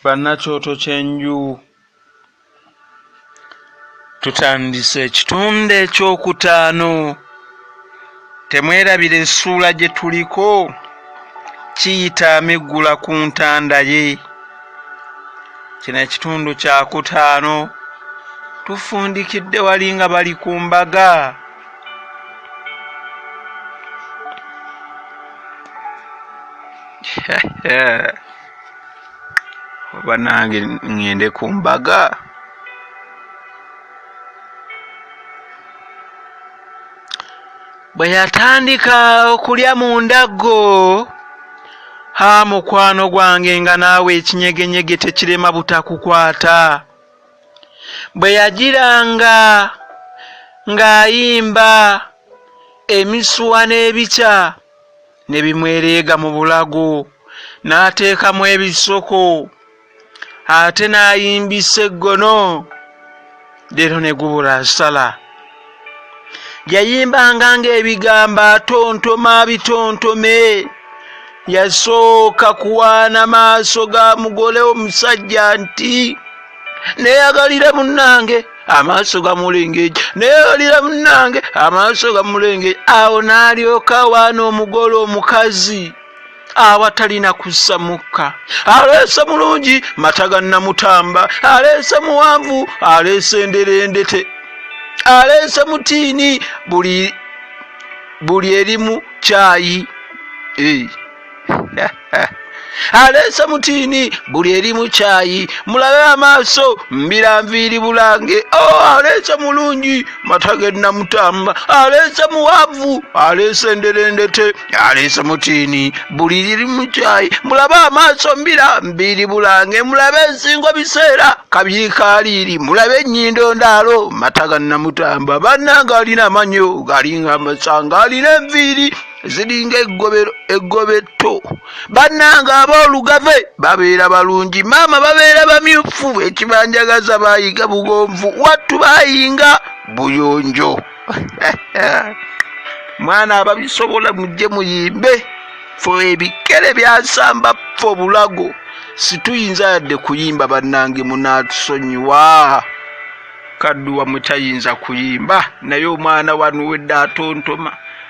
bannakyoto ky'enju tutandise ekitunde ekyokutaano temwerabira essuula gye tuliko kiyita amiggula ku ntanda ye kino ekitundu kyakutaano tufundikidde wali nga bali ku mbaga oba nange ŋŋende ku mbaga bwe yatandika okulya mu ndaggo ha mukwano gwange nga naawe ekinyegenyege tekirema butakukwata bwe yagiranga ng'ayimba emisuwa n'ebikya ne bimwereega mu bulago n'ateekamu ebisoko ate n'ayimbisa eggono leero ne gubula asala. yayimbanga ng'ebigambo atontoma bitontome yasooka kuwaana maaso ga mugole omusajja nti neyagalire munnange amaaso gamulengeja neyagalire munnange amaaso gamulengeja awo n'alyoka waana omugole omukazi awatalina kussa mukka aleese mulungi mata ga namutamba aleese muwanvu aleese enderendete aleese mutiini buli buli erimu kyayi eh. aleese mutiini buli erimu kyayi mulabe amaaso mbira nviiri bulange o oh, aleese mulungi mata ge namutamba aleese muwanvu aleese enderendete aleese mutiini buli liri mu kyayi mulabe amaaso mbira mbiiri bulange mulabe ensingo biseera kabyikaaliiri mulabe ennyindo ndaalo mata ga nnamutamba bannanga alina amanyo galinga amasanga alina enviiri ziringa eggobetto bannange aboolugave babeera balungi maama babeera bamyufu ekibanjagaza baayiga bugonvu wattu baayinga buyonjo mwana ababisobola mujje muyimbe fe ebikere byasamba fe obulago situyinza yadde kuyimba bannange munatusonyiwa kadduwa mutayinza kuyimba naye omwana wanuwedde atontoma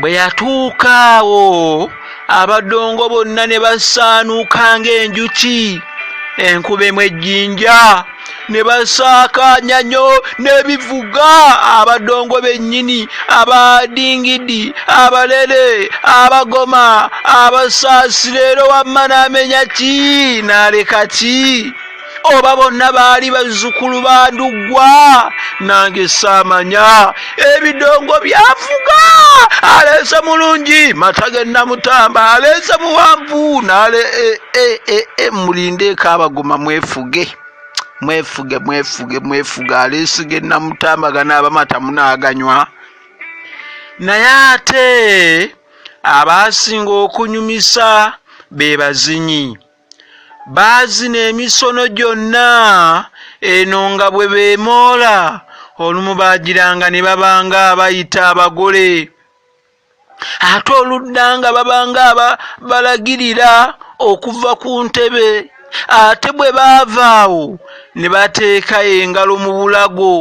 bwe yatuuka awo abadongo bonna ne basaanuuka ng'enjuki enkuba emu ejjinja ne basaakaanya nnyo n'ebivuga abadongo bennyini abadingidi abalere abagoma abasaasira era wamma n'amenya ki n'aleka ki oba bonna baali bazzukulu ba nduggwa nange saamanya ebidongo byafuga aleese mulungi mata ge namutamba aleese muwanvu nale e, e, e, e, mulindeeko abagoma mwefuge mwefuge mwefuge mwefuge aleese ge namutamba ganaabamata munaaganywa naye ate abaasinga okunyumisa be bazinyi baazina emisono gyonna eno nga bwe beemoola olumu baagiranga ne babanga abayita abagole ate oludda nga babanga balagirira okuva ku ntebe ate bwe baavaawo ne bateeka engalo mu bulago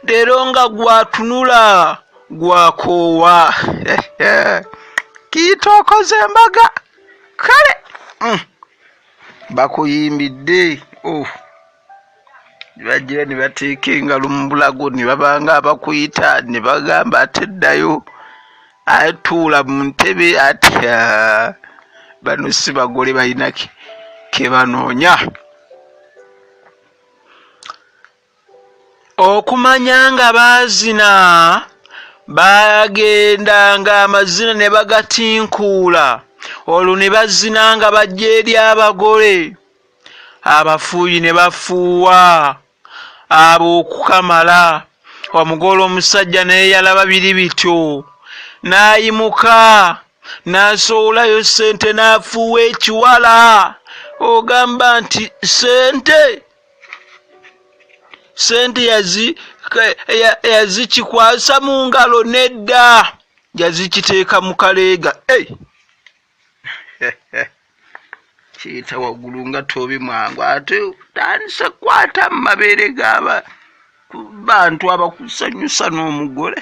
leero nga gwatunula gwakoowa kiitookoza embaga kale mm. bakuyimbidde oh. bajira ne bateeka engalo mu bulago ne babanga abakuyita ne bagamba ate ddayo atuula mu ntebe atya bano si bagole balina ke banoonya okumanya nga baazina baagenda ng'amazina ne bagatinkuula olwo ne bazina nga bajja eri abagole abafuuyi ne bafuuwa abo okukamala omugole omusajja naye yalaba biri bityo n'ayimuka n'asowolayo ssente n'afuuwa ekiwala ogamba nti ssente sente yazikikwasa mu ngalo nedda yazikiteeka mu kaleega kiyita waggulu nga tobi mwangu ate tandise kukwata mu mabeere gaaba bantu abakusanyusa n'omugole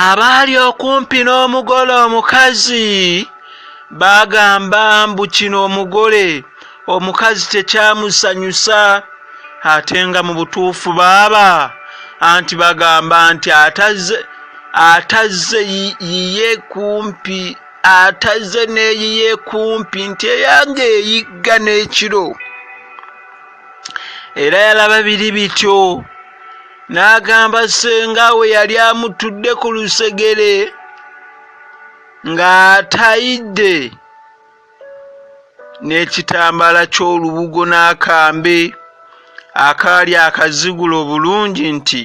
abaali okumpi n'omugole omukazi bagamba mbu kino omugole omukazi tekyamusanyusa ate nga mu butuufu baaba anti bagamba nti atazze atazze yiye kumpi atazze n'eyiye kumpi nti eyange eyigga n'ekiro era yalaba biri bityo n'agamba ssenga we yali amutudde ku lusegere ng'atayidde n'ekitambaala ky'olubugo n'akambe akaali akazigula obulungi nti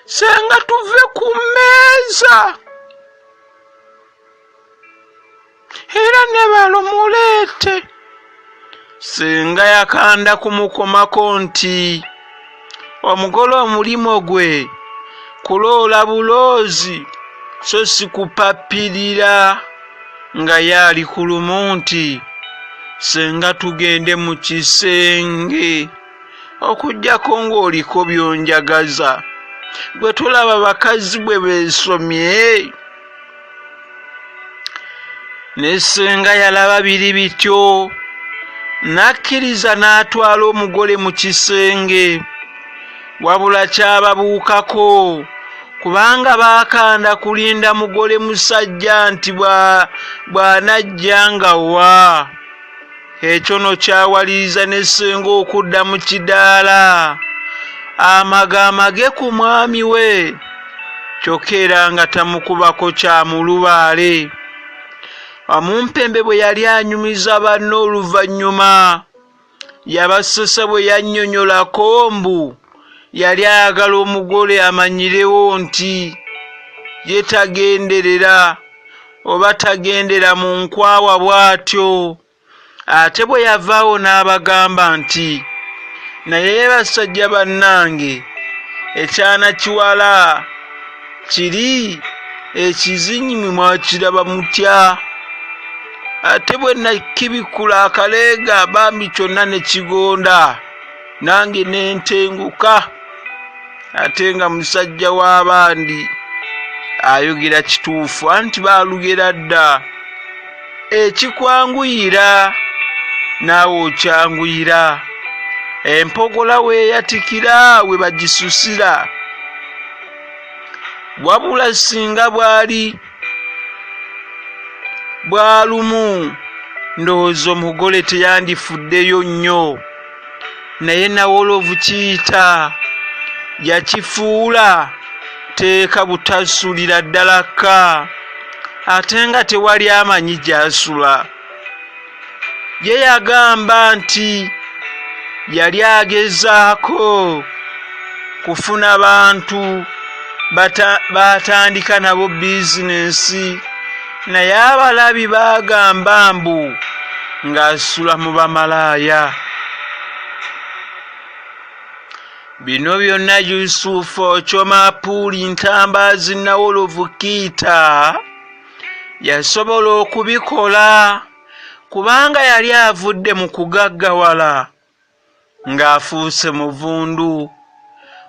ssenga tuve ku mmeeza era ne balo muleete senga yakanda kumukomako nti omugole omulimo gwe kuloola buloozi so si kupapirira nga ye ali ku lumu nti senga tugende mu kisenge okujjako ng'oliko byonjagaza gwe tulaba bakazi bwe beesomye ne senga yalaba biri bityo n'akkiriza n'atwala omugole mu kisenge wabula kyababuukako kubanga baakanda kulinda mugole musajja nti bw'anajja nga wa Ekyo no kyawaliriza ne ssenga okudda mu kidaala amaga amage ku mwami we kyokka era nga tamukubako kya mulubaale. Wamumpembe bwe yali anyumiza banne oluvannyuma yabasesa bwe yannyonyolako mbu. yali ayagala omugole amanyirewo nti ye tagenderera oba tagendera mu nkwawa bw'atyo ate bwe yavaawo n'abagamba nti naye basajja bannange ekyana kiwala kiri ekizinyimwe mwakiraba mutya ate bwe nakibikula akaleega bambi kyonna ne kigonda nange nentenguka ate nga musajja w'abandi ayogera kituufu anti baalugera dda ekikwanguyira naawe okyanguyira empogola weeyatikira we bagisusira wabula singa bwali bwalumu ndowooza omugole teyandifuddeyo nnyo naye nawolovu kiyita yakifuula teeka butasulira ddala ka ate nga tewali amanyi gyasula ye yagamba nti yali agezaako kufuna bantu baatandika nabo bizinensi naye abalabi bagamba mbu ng'asula mu bamalaaya bino byonna yusufu okyoma puuli ntambaazi nawolovu kiita yasobola okubikola kubanga yali avudde mu kugaggawala ng'afuuse muvundu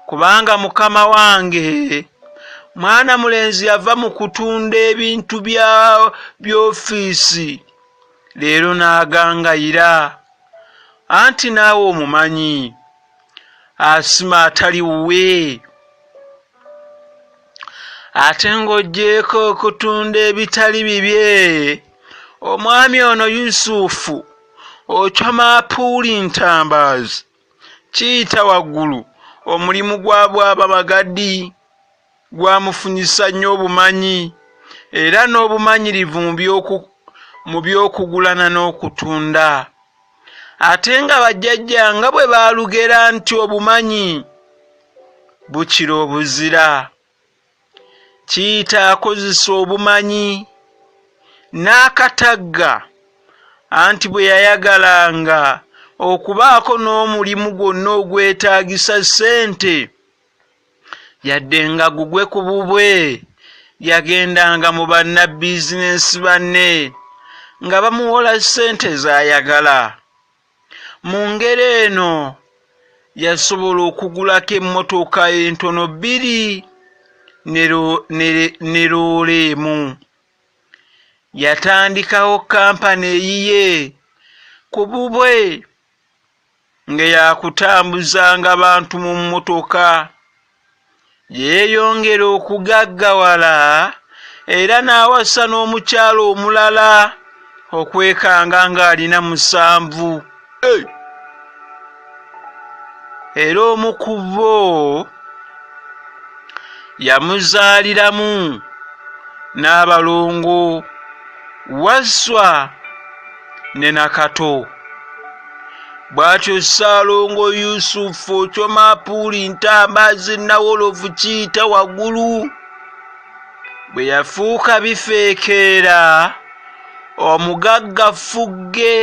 kubanga mukama wange mwana mulenzi yava mu kutunda ebintu bya by'ofiisi leero n'agangayira anti naawe omumanyi asima atali wuwe ate ng'oggyeeko okutunda ebitali bibye omwami ono yusufu ocoma apuuli ntambaazi kiyita waggulu omulimu gwa bwaba bagadi gwamufunyisa nnyo obumanyi era n'obumanyirivu mu by'okugulana n'okutunda ate nga bajjajja nga bwe baalugera nti obumanyi bukira obuzira kiyita akozesa obumanyi n'akatagga anti bwe yayagalanga okubaako n'omulimu gwonna ogwetaagisa ssente Yadde nga gugwe ku bubwe yagendanga mu bannabizinensi banne nga bamuwola ssente z'ayagala. Mu ngeri eno yasobola okugulako emmotoka entono bbiri ne loole emu. Yatandikawo kkampani eyiye ku bubwe. ng'eyakutambuzanga bantu mu mmotoka yeeyongera okugaggawala era n'awasa n'omukyala omulala okwekanga ng'alina musanvu era omu ku bo yamuzaaliramu n'abalongo wasswa ne nakato bwatyo ssaalongo yusufu kyomapuuli ntambazi nawolovu kiyita waggulu bwe yafuuka bifeekeera omugagga ffugge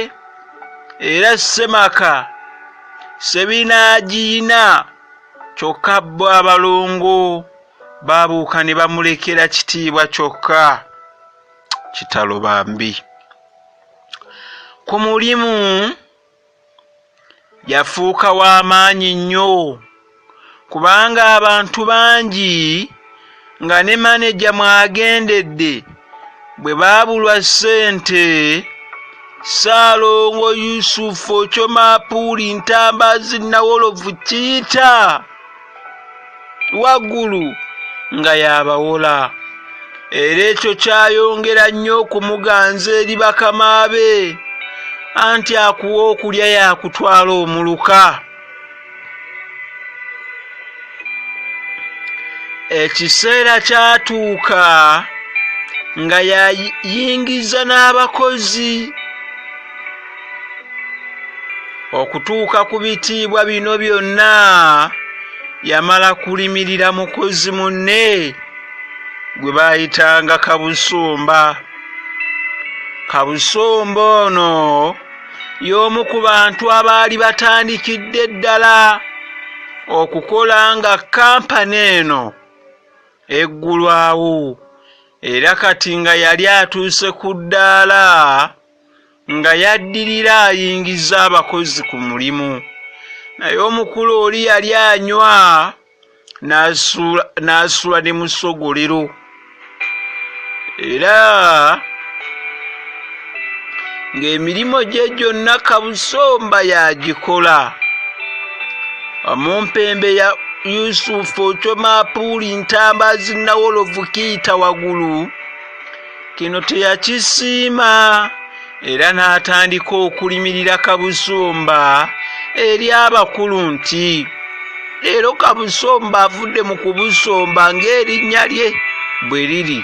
era ssemaka sebinaagiyina kyokka bo abalongo baabuuka ne bamulekera kitiibwa kyokka kitalo bambi ku mulimu yafuuka wa maanyi nnyo kubanga abantu bangi nga ne maneja mwagendedde bwe baabulwa ssente ssaalongo yusufu okyomaapuuli ntambazi nawolovu kiyita waggulu nga yabawola era ekyo kyayongera nnyo okumuganza eri bakama be anti akuwa okulya yakutwala omuluka ekiseera kyatuuka nga yayingiza n'abakozi okutuuka ku bitiibwa bino byonna yamala kulimirira mukozi munne gwe baayitanga kabusumba kabusumba ono y'omu ku bantu abaali batandikidde ddala okukola nga kampani eno eggulwawo era kati nga yali atuuse ku ddaala nga yaddirira ayingiza abakozi ku mulimu naye omukulu oli yali anywa n'asula ne musogolero era ng'emirimu gye gyonna kabusomba yagikola omumpembe ya yusufu ocomapuuli ntamba zinawolovu kiita wagulu kino teyakisiima era n'atandika okulimirira kabusumba eri abakulu nti leero kabusomba avudde mu kubusomba ng'erinnya lye bwe liri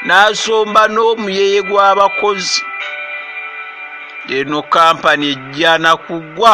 n'asomba n'omuyeye gw'abakozi eno kampani ejjana kugwa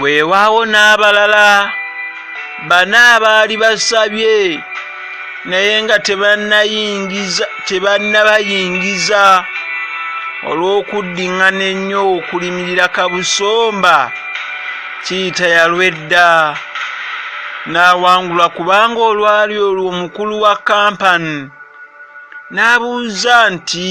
weewaawo n'abalala bana abaali basabye naye nga tebannayingiza tebannabayingiza olw'okuddiŋŋana ennyo okulimirira kabusomba kiyita yalwedda n'awangulwa kubanga olwali olwo omukulu wa kampani n'abuuza nti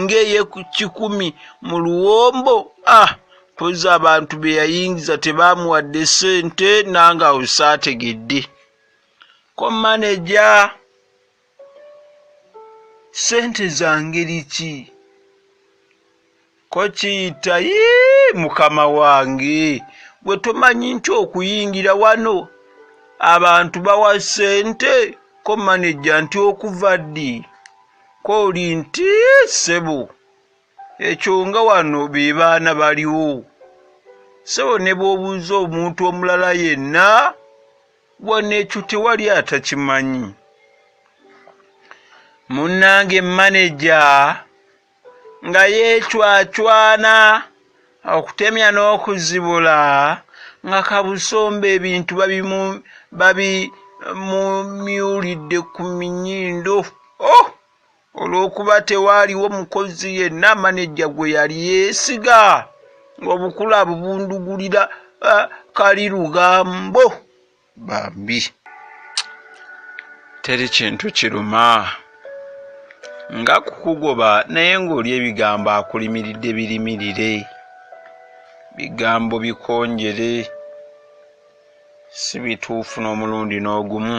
ng'eye ku kikumi mu luwombo ah, mpozi abantu be yayingiza tebaamuwadde ssente nange awo saategedde ko maneja ssente za ngeri ki ko kiyita yii mukama wange gwe tomanyi nti okuyingira wano abantu bawa ssente ko maneja nti okuva ddi Kooli nti ssebo ekyo nga wano be baana baliwo ssebo ne bw'obuuza omuntu omulala yenna wano ekyo tewali atakimanyi munnange maneja nga yeecwacwana okutemya n'okuzibula nga kabusomba ebintu babimumyulidde ku minyindo oh! olw'okuba tewaaliwo mukozi yenna manejja gwe yali yeesiga ng'obukula abubundugulira eh, kali lugambo bambi teri kintu kiruma nga kukugoba naye ng'oli ebigambo akulimiridde birimirire bigambo bikonjere si bituufu n'omulundi n'ogumu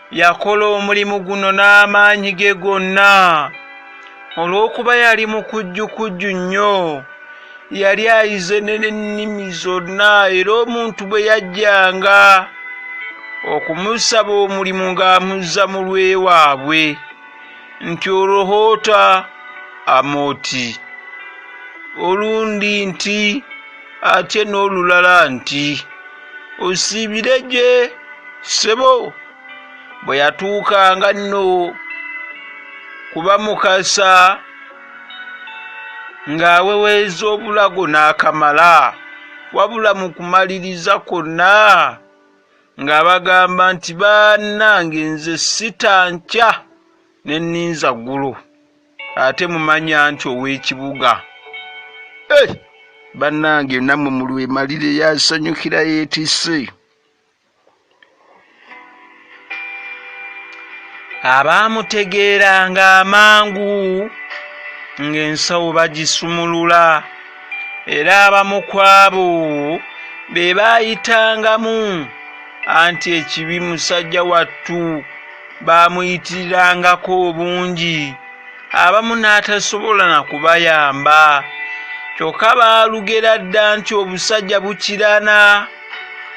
Yakola omulimu guno n'amaanyi ge gonna. Olw'okuba yali mukujjukujju nnyo, yali ayize n'ennimi zonna era omuntu bwe yajjanga okumusaba omulimu ng'amuzza mu lw'ewaabwe nti Olohoota Amooti, olundi nti. ate n'olulala nti osiibire gye ssebo bwe yatuukanga nno kuba mukasa ng'aweweeza obulago n'akamala wabula mu kumaliriza kwonna ng'abagamba nti bannange nze sita nkya ne nninza ggulo ate mumanyi anti ow'ekibuga eh! bannange nammwe mu lwemalire yasanyukira yeetise abaamutegeeranga amangu ng'ensawo bagisumulula era abamu kwabo be baayitangamu anti ekibi musajja wattu baamuyitirirangako obungi abamu n'atasobola na kubayamba kyokka baalugera dda nti obusajja bukirana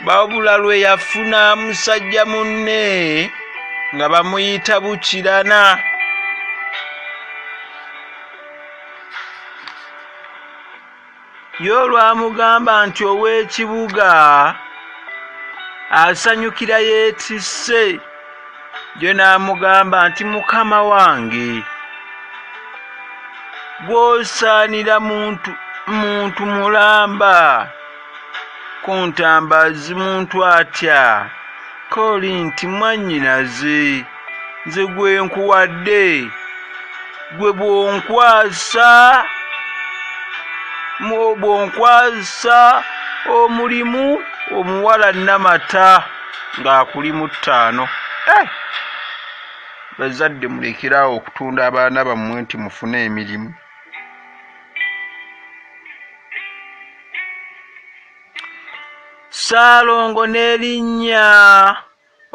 wabula lwe yafuna musajja munne nga bamuyita bukirana Ye olwamugamba nti ow'ekibuga asanyukira yeetisse, ye n'amugamba nti mukama wange gw'osaanira muntu muntu mulamba ku ntambazi muntu atya kooli nti mwannyinaze. nze gwe nkuwadde gwe bwonkwasa bwonkwasa omulimu omuwala namata ng'akuli mu ttaano eh! bazadde mulekeraawo okutunda abaana bammwe nti mufune emirimu saalongo n'erinnya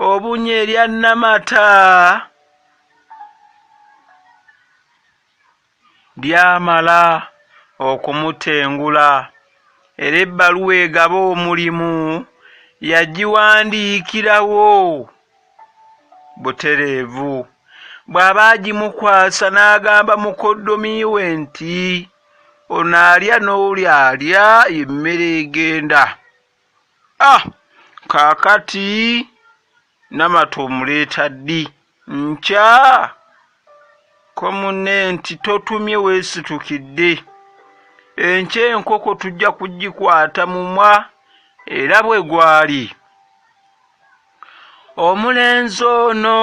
obunye erya namata lyamala okumutengula era ebbaluwa egaba omulimu yagiwandiikirawo butereevu bw'aba agimukwasa n'agamba mukoddomi we nti ono alya n'oli alya emmere egenda Ah, kakati namata omuleeta ddi nkya ko munne nti totumye wesitukidde enkya enkoko tujja kugikwata mumwa era bwe gwali omulenzi ono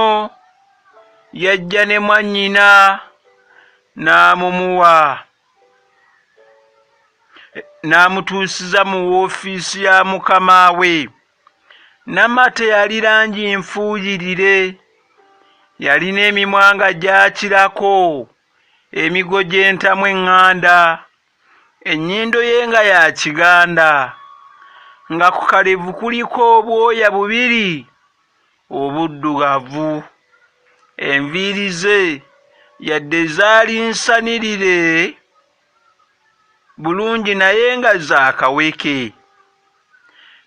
yajja ne mwannyina n'amumuwa n'amutuusiza mu woofiisi ya mukama we. Namate yali langi nfuuyirire, yalina emimwa nga gyakirako, emigo gy'entamu eŋŋanda, ennyindo ye nga ya kiganda, nga ku kalevu kuliko obwoya bubiri. obuddugavu. Enviiri ze yadde zaali nsanirire bulungi naye nga za kaweke.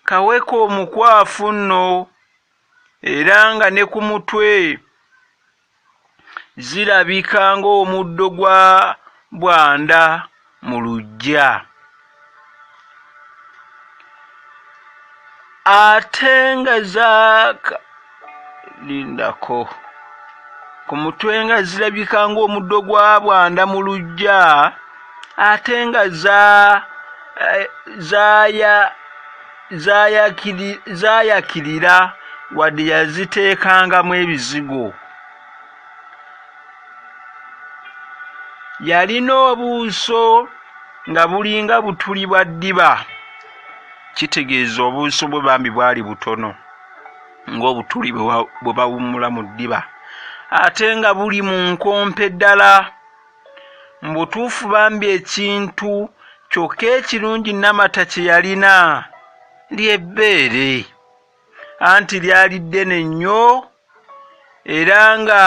Kaweke omukwafu nno era nga ne ku mutwe zirabika ng'omuddo gwa bwanda mu luggya ate nga zaaka lindako ku mutwe nga zirabika ng'omuddo gwa bwanda mu luggya ate nga za eh, zaaya zaayakirira wadde yaziteekangamu ebizigo yalina obuuso nga bulinga butuli bwa ddiba kitegeeza obuuso bwe bambi bwali butono ng'obutuli bwe bawummula mu ddiba ate nga buli mu nkompe ddala Mubutuufu bambi ekintu kyokka ekirungi Namata kyeyalina ly'ebbeere anti lyali ddene nnyo era nga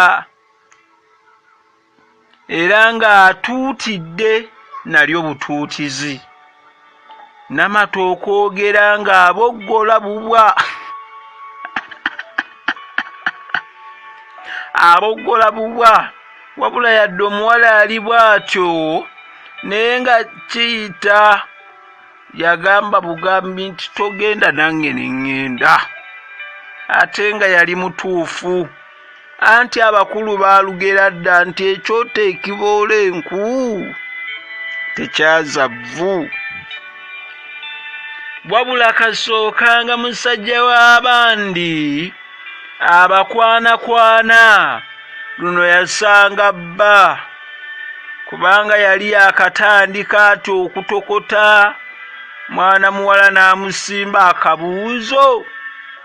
era nga atuutidde nalyo butuutizi. namata okwogera nga aboggola bubwa aboggola bubwa wabula yadde omuwala ali bwatyo naye nga kiyita yagamba bugambi nti togenda nange neŋŋenda ate nga yali mutuufu Anti abakulu baalugera dda nti ekyoto ekiboola enku tekyaza vvu. Wabula kasookanga musajja w'abandi abakwanakwana luno yasanga bba kubanga yali yakatandika ati okutokota mwana muwala n'amusimba akabuuzo.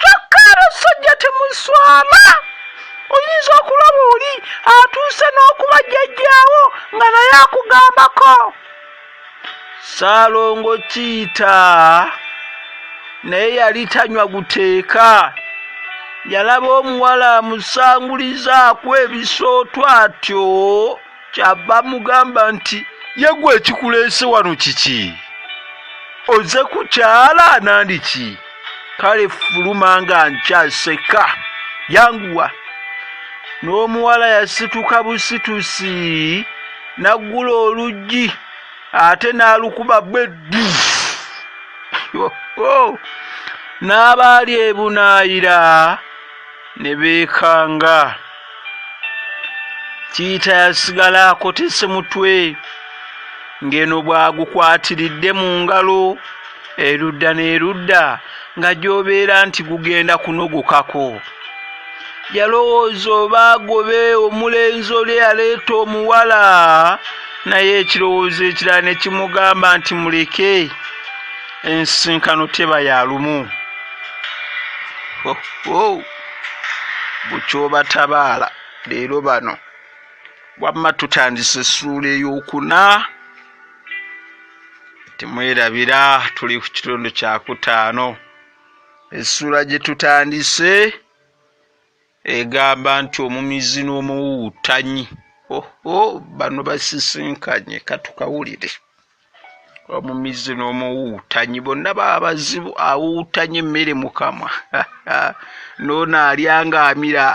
kyokka abasajja temuswala oyinza okulaba oli atuuse n'okuba jjajjaawo nga naye akugambako saalongo kiyita naye yali tanywa guteeka yalaba omuwala amusangulizaako ebisootwa atyo kyava mugamba nti yegwe ekikuleese wano kiki oze kukyala nandiki kale fuluma nga nkyaseka yanguwa n'omuwala yasituka busitusi naggula oluggi ate n'alukuba beddi n'abaali ebunaayira ne beekanga kiyita yasigala akotese mutwe ng'eno bwagukwatiridde mu ngalo erudda n'erudda nga gy'obeera nti gugenda kunogokako yalowooza oba agobe omulenzi oli eyaleeta omuwala naye ekirowoozo ekirala ne kimugamba nti muleke ensisinkano teba ya lumu oh, oh. bukyobatabaala leero bano wamma tutandise essuula eyokuna temwerabira tuli ku kitundu kyakutaano essuula gye tutandise egamba nti omumizi n'omuwuwuttanyi oho bano basisinkanye katukawulire omumizzi n'omuwuutanyi bonna baba bazibu awuutanye emmere mukamwa noono alya nga amira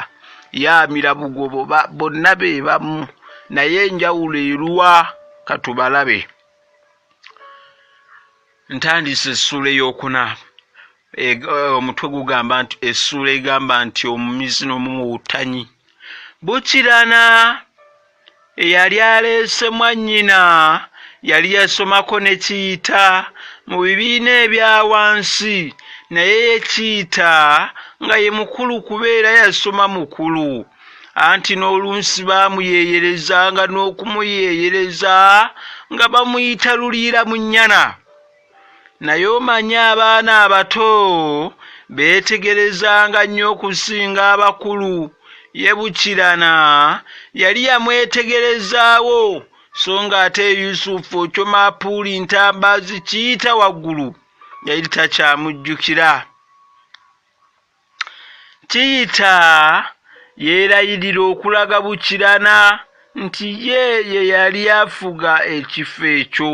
ye amira bugobo bonna be bamu naye enjawulo eruwa katubalabe ntandise essuula eyokuna E, eh, omutwe gugamba nti essuula egamba nti omumizi n'omumuwutanyi bukirana eyali aleese mwannyina yali yasomako ne kiyita mu bibiina ebya wansi naye yekiyita nga ye mukulu kubeera yasoma mukulu anti n'olunsi baamuyeeyereza nga n'okumuyeeyereza nga bamuyita luliira mu nnyana naye omanyi abaana abato beetegerezanga nnyo okusinga abakulu ye bukirana yali yamwetegerezaawo so ng'ate yusufu okyomapuuli ntambaazi kiyita waggulu yali takyamujjukira kiyita yeerayirira okulaga bukirana nti ye ye yali afuga ekifo ekyo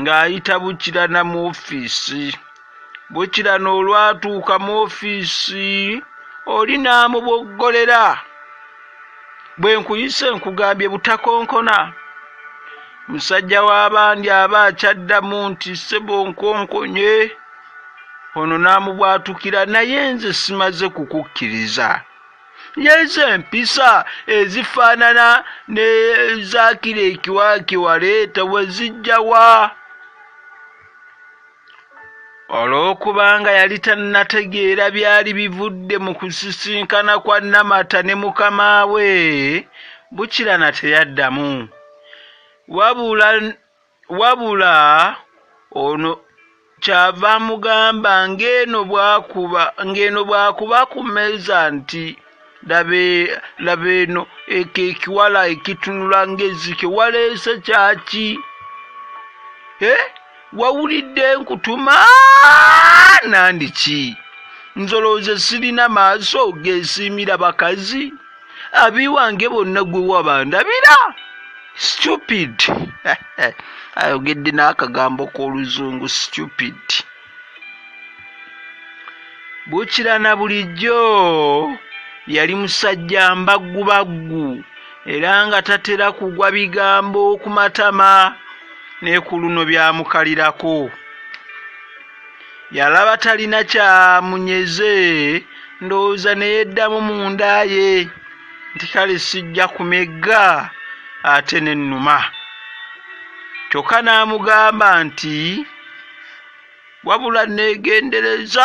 ng'ayita Bukirana mu ofiisi. Bukirana olwatuuka mu ofiisi oli n'amuboggolera bwe nkuyise nkugambye butakonkona musajja w'abandi aba akyaddamu nti ssebo nkonkonye ono n'amubwatukira naye nze simaze kukukkiriza yesu empisa ezifaanana nezakira ekiwaaki waleeta wezijjawa olw'okubanga yali tannategeera byali bivudde mu kusisinkana kwa namata ne mukama we bukirana teyaddamu wabula Wabula ono ky'ava amugamba ng'eno bw'akuba ng'eno bw'akuba ku mmeeza nti laba laba eno eko ekiwala ekitunula ng'ezzike waleese kyaki eh? wawulidde nkutuma nandiki nzolooze sirina maaso gesiimira bakazi abiwange bonna gwe wabandabira stupid ayogedde n'akagambo k'oluzungu stupid bukira na bulijjo yali musajja mbaggubaggu era nga tatera kugwa bigambo ku matama ne ku luno byamukalirako yalaba talina kyamunyeze ndowooza neyeddamu mu nda ye nti kale sijja kumegga ate nennuma kyokka n'amugamba nti wabula neegendereza